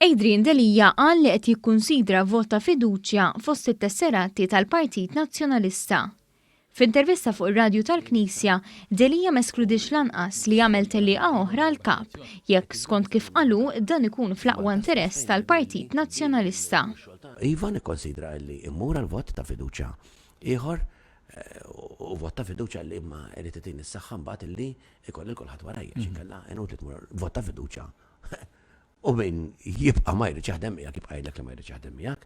Adrian Delia qal li qed jikkunsidra vot ta' fiduċja fost it-tesserati tal-Partit Nazzjonalista. F'intervista fuq ir-radju tal-Knisja, Delia ma eskludiex lanqas li jagħmel tellieqa oħra għall-Kap, jekk skont kif qal hu dan ikun fl-aqwa interess tal-Partit Nazzjonalista. Iva nikkonsidra illi mmur għal vot ta' fiduċja ieħor. u vot ta' fiduċja li imma irid itini s-saħħa mbagħad illi jkolli lil kulħadd warajja għax inkella inutli tmur vot ta' fiduċja u min jibqa' ma jridx jaħdem miegħek jibqa' jgħidlek li ma jridx jaħdem miegħek.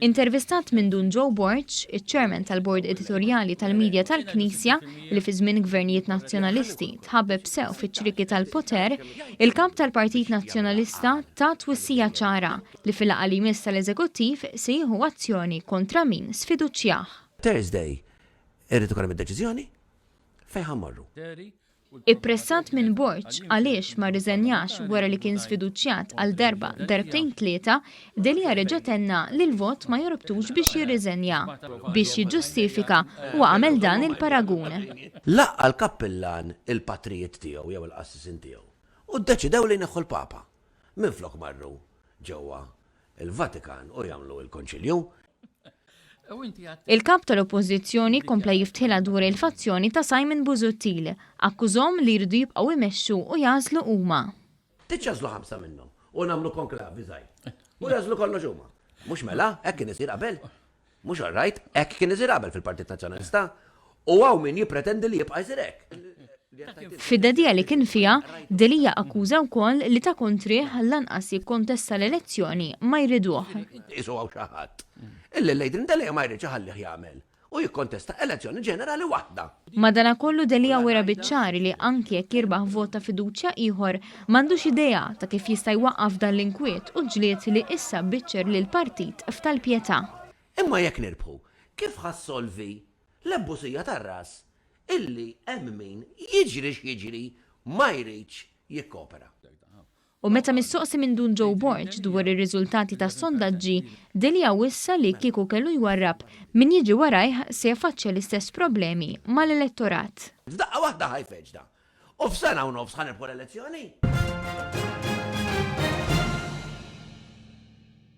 Intervistat minn Dun Joe Borg, iċ-Chairman tal-Bord Editorjali tal-Media tal-Knisja, li fi żmien gvernijiet Nazzjonalisti tħabbeb sew fiċ-ċrieki tal-poter, il-Kap tal-Partit Nazzjonalista ta twissija ċara li fil-laqgħa li jmiss tal-Eżekuttiv se jieħu azzjoni kontra min sfiduċjah. Thursday irid ikun hemm id-deċiżjoni fejn ħa mmorru. Ippressat minn Borg għaliex ma rriżenjax wara li kien sfiduċjat għal darba, darbtejn tlieta, Delia reġa' tenna li l-vot ma jorbtux biex jirriżenja. Biex jiġġustifika, huwa għamel dan il-paragun. Laqqa' l-kappillan il-patrijiet tiegħu jew il-qassisin tiegħu u ddeċidew li jneħħu l-Papa. minflok marru ġewwa l-Vatikan u jagħmlu l-Konċilju. Il-Kap tal-Oppożizzjoni kompla jiftħilha dwar il-fazzjoni ta' Simon Busuttil. Akkużahom li jridu jibqgħu jmexxu u jagħżlu huma. Iċċażlu ħamsa minnhom u nagħmlu konklavi żgħir. U jagħżlu kollox huma. Mhux mela? Hekk kien isir qabel? Mhux all right, hekk kien isir qabel fil-Partit Nazzjonalista u hawn min jippretendi li jibqa' jsir hekk. Fid-dedija li kien fiha, Delia akkuża wkoll li ta' kontrih lanqas jikkontesta l-elezzjoni ma jriduh. Qisu hawn xi ħadd illi Adrian Delia ma jridx iħallih jagħmel u jikkontesta elezzjoni ġenerali waħda. Madanakollu Delia wera biċ-ċar li anki jekk jirbaħ vot ta' fiduċja ieħor, m'għandux idea ta' kif jista' jwaqqaf dan l-inkwiet u ġlied li issa biċċer lill-partit f'tal-pjetà. Imma jekk nirbħu, kif ħa ssolvi l-ebbużija tar-ras illi hemm min, jiġri x'jiġri, ma jridx jikkopera? U meta mistoqsi minn Dun Joe Borg dwar ir-riżultati tas-sondaġġi, Delia wissa li kieku kellu jwarrab, min jiġi warajh se jaffaċċja l-istess problemi mal-elettorat. F'daqqa waħda ħa jfeġġna. U f'sena u nofs ħa nirbħu l-elezzjoni.